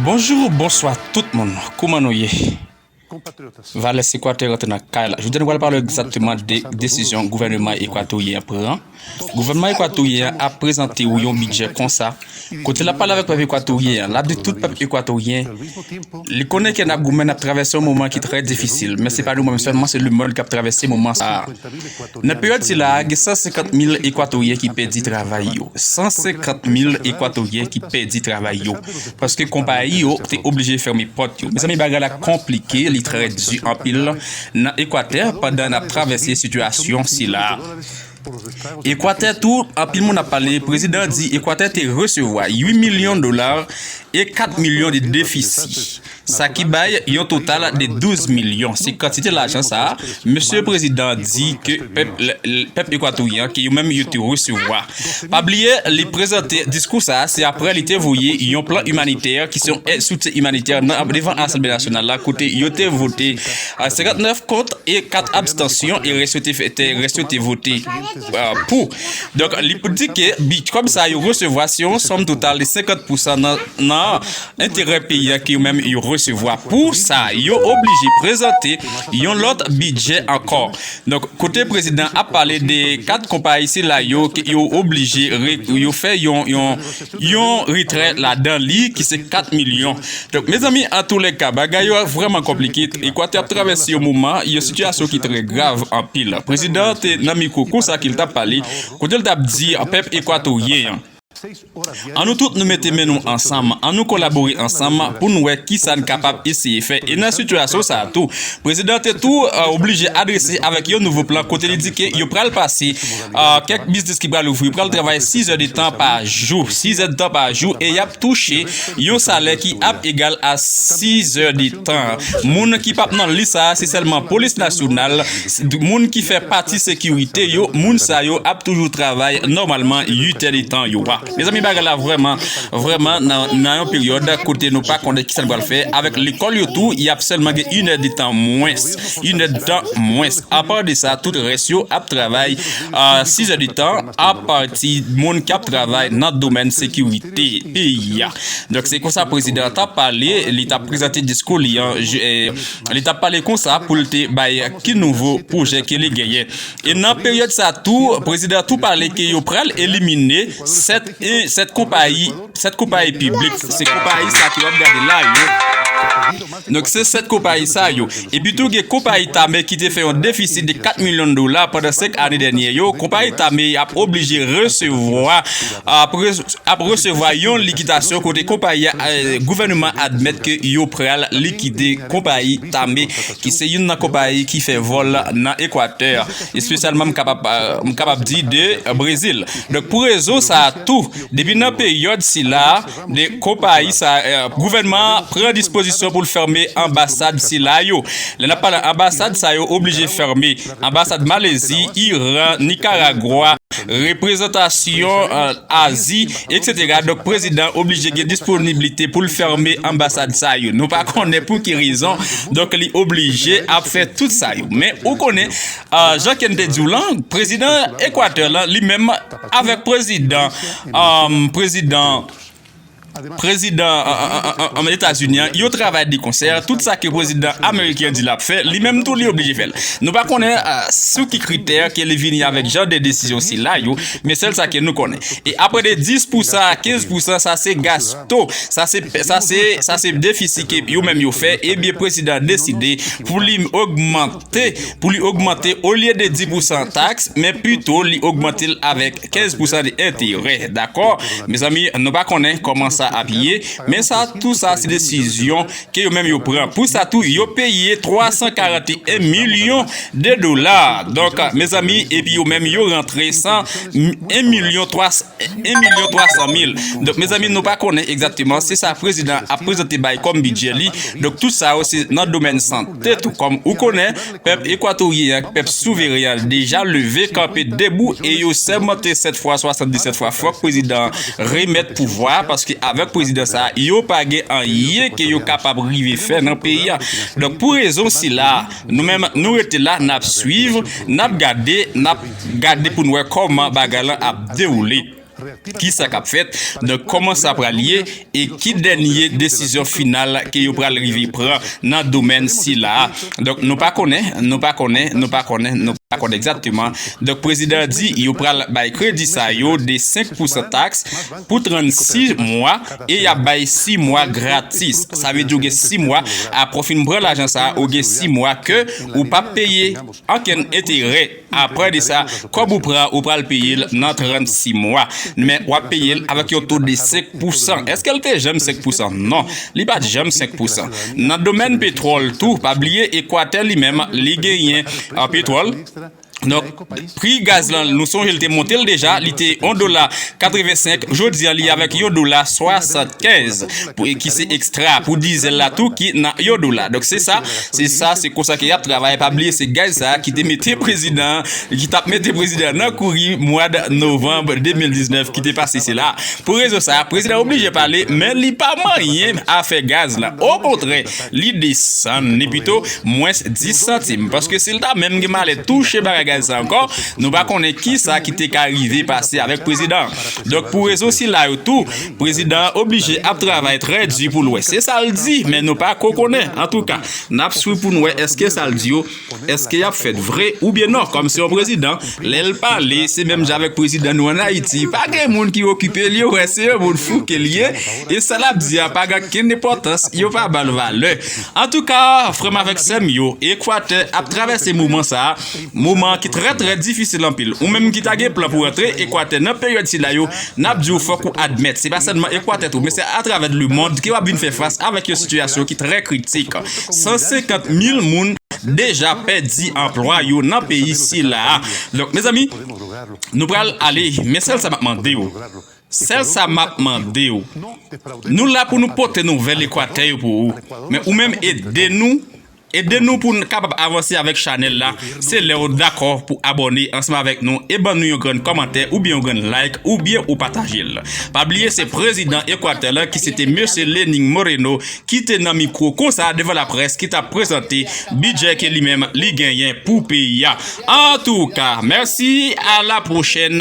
Bonjou ou bonswa tout moun kouman nou ye Vales ekwatè rantre nan kay la jodia nou pral pale egzakteman de desizyon gouvèneman ekwatoryen an pran gouvènman ekwatoryen an ap prezante ou yon bidjè konsa kote lap pale avèk pèp ekwatoryen an lap di tout pèp ekwatoryen li konnen ke nap goumen nap travèse yon moman ki trè difisil men se pa nou menm sèlman se lemond kap travèse moman sa. Nan peryòd sila a, gen 150 mil Ekwatoryen ki pèdi travay yo. 150 mil Ekwatoryen ki pèdi travay yo, paske konpayi yo te oblije fèmen pòt yo. Mezanmi bagay la konplike, li trè di anpil nan Ekwatè pandan n ap travèse sitiyasyon sila a. Ekwatè tou, anpil moun ap pale, prezidan an di Ekwatè te resevwa 8 milyon dola e 4 milyon de defisi. sa ki bay yon total de 12 milyon, se kantite lajan sa a Mesye Prezidan an di ke pèp Ekwatoryen an ke yo menm yo te resevwa. Pa bliye li prezante diskou sa a se apre li te voye yon plan imanitè ki se yon èd soutyen imanitè nan devan Asanble Nasyonal la kote yo te vote 59 kont e 4 abstansyon e rès yo te vote pou. Donk li di ke kòb sa a yo resevwa se yon sòm total de 50 pousan nan enterè peyi a ki menm yo resevwa pou sa yo oblije prezante yon lòt bidjè ankò donk kote prezidan ap pale de 4 konpayi sila yo ke yo oblije yo fè yon yon retrè ladan li ki se 4 milyon donk mezanmi antoulèka bagay yo vrèman konplike ekwatè ap travèse yon moman yon sitiyasyon ki trè grav anpil prezidan te nan mikwo konsa ke li tap pale kote li tap di pèp ekwatoryen an. An nou tout nou mete men nou ansanm, an nou kolabore ansanm pou n wè ki sa n kapab eseye fè. E nan sitiyasyon sa a tou, prezidan an te tou oblije adrese avèk yon nouvo plan kote li di ke yo pral pase kèk biznis ki pral ouvri pral travay sizèdetan pa jou, sizèdtan pa jou e y ap touche yon salè ki ap egal a sizèdetan. Moun ki p ap nan lis sa a se sèlman polis nasyonal, moun ki fè pati sekirite yo moun sa yo ap toujou travay nòmalman 8 è de tan yo a mezanmi bagay la vrèman vrèman nan yon peryòd kote nou pa konnen kisa nou pral fè avèk lekòl yo tou yap sèlman gen 1 è de tan mwens 1 è de tan mwens apa de sa tout rès yo ap travay 6 è de tan apati moun kap travay nan domèn sekirite peyi a donk se konsa prezidan an tap pale li tap prezante diskou li an. li t ap pale konsa pou l te bay ki nouvo pwojè ke li genyen. E nan peryòd sa tou, prezidan an tou pale ke yo pral elimine 7 e 7 konpayi, 7 konpayi piblik, se konpayi sa ke w ap gade la yo, donk se 7 konpayi sa yo. Epi tou gen konpayi Tame ki te fè yon defisi de 4 milyon dola pandan 5 ane dènyè yo, konpayi Tame y ap oblije resevwa. ap resevwa yon likitasyon kote konpayi a gouvèneman admèt ke yo pral likide konpayi Tame ki se youn nan konpayi ki fè vòl nan Ekwatè espesyalman m kapab di de Brezil donk pou rezon sa a tou depi nan peryòd sila a. 2 konpayi sa yo. Gouvènman an pran dispozisyon pou l fèmen anbasad sila yo. Lè n ap pale anbasad sa yo oblije fèmen. Anbasad Malezi, Iran, Nikaragwa, reprezantasyon Azi, eksetera. Donk prezidan oblije gen disponiblite pou l fèmen anbasad sa yo. Nou pa konnen pou ki rezon. Donk li oblije ap fè tout sa yo. Men ou konnen jan Ken te di w lan, prezidan Ekwatè lan li menm. Avèk prezidan prezidan prezidan etazini an yo travay de konsè tout sa ke prezidan ameriken an di lap fè li menm tou li oblije fèl nou pa konnen sou ki kritè ke li vini avèk jan de desizyon sila yo men sèl sa ke nou konnen e apre de 10 pou sa 15 pou sa sa se gasto sa se sa se sa se defisi ke yo menm yo fè ebyen prezidan deside pou li ogmante te pou li ogmante olye de 10 pousan taks men pito li ogmante l avèk 15 pousan de enterè dakò mezanmi nou pa konnen kòman sa ap ye men sa tou sa se desizyon ke yo menm yo pran pou sa tou yo peye 341 milyon de dola donk mezanmi epi yo menm yo rantre 100 1 milyon 1 milyon 300 mil donk mezanmi nou pa konnen egzakteman se sa prezidan ap prezante bay kòm bidjè li donk tout sa yo se nan domèn sante. Te tou kòm ou konè, pèp Ekwatoryen ak pèp souveren an deja leve kanpe debou e yo sèmante 7 fwa 77 fwa fòk prezidan an remèt pouvwa a paske avèk prezidan sa a yo pa gen anyen ke yo kapab rive fè nan peyi a. Donk pou rezon sila a nou menm nou rete la nap swiv, nap gade, nap gade pou n wè kòman bagay lan ap dewoule. ki sa k ap fèt nan kòman sa pral ye e ki dènye desizyon final ke yo pral rive pran nan domèn sila a. Donk nou pa konnen, nou pa konnen, nou pa konnen, nou pa konnen egzakteman. Donk prezidan an di yo pral bay kredi sa yo de 5 pousan taks pou 36 mwa e y ap bay 6 mwa gratis. Sa vle di ou gen 6 mwa apre w fin pran lajan sa a, ou gen 6 mwa ke ou p ap peye ankenn enterè. Apre de sa, kòb ou pran ou pral peye l nan 36 mwa. Men w ap peye l avèk yon to de 5 pousan. Èske l te janm 5 pousan? Non, li pa t janm 5 pousan. Nan domèn petwòl tou, pa bliye Ekwatè li menm li genyen petwòl. Donk, pri gaz lan nou sonje l te monte l deja, li te 1 dola 85, jodi a li avèk yon dola 75 ki se ekstra pou dizèl la tou ki nan yon dola. Donk se sa. Se sa se konsa ke yap travay pa bliye se gaz sa kite mete prezidan ki tap mete prezidan nan kouri mwad novanb 2019 kite pase se la pou rezon sa prezidan oblije pale men li pa manyen afè gaz la o kontrè li desann ni pito mwens 10 santim paske sil ta menm gen malè touche bagay gaz sa ankò nou pa konnen kisa kite ka rive pase avèk prezidan donk pou rezon sila yo tou Prezidan an oblije ap travay trè di pou l wè se sa l di men nou pa ko konnen. Antouka, n ap swiv pou n wè èske sa l di yo, èske y ap fèt vre oubyen non. Kòm se yon prezidan, lè l pale, se menm jan avèk prezidan nou an Ayiti, pa gen moun ki okipe l, yo wè se yon moun fou ke l ye e sa l ap di a pa gen okenn enpòtans, yo pa ba l valè. Antouka, frè m avèk sè m yo, Ekwatè ap travèse moman sa a. Moman ki trè trè difisil anpil. Ou menm ki ta gen plan pou rantre Ekwatè nan peryòd sila yo, n ap di w fòk ou admèt se pa sèlman Ekwatè tou men se atravè lemond ke w ap vin fè fas avèk yon sitiyasyon ki trè kritik. 150 mil moun deja pèdi anplwa yo nan peyi sila a. Donk mezanmi, nou pral ale men sèl sa m ap mande w, sèl sa m ap mande w, nou la pou nou pote nouvèl Ekwatè yo pou ou men ou menm ede nou, Ede nou pou n kapab avanse avèk chanèl la se lè ou dakò pou abòne ansanm avèk nou e ban nou yon grenn kòmantè oubyen yon grenn like oubyen ou pataje l. Pa bliye se prezidan Ekwatè la ki se te Mesye Lenin Moreno ki te nan mikwo konsa devan laprès ki t ap prezante bidjè ke li menm li genyen pou peyi a. Antouka, mèsi a la pwochèn.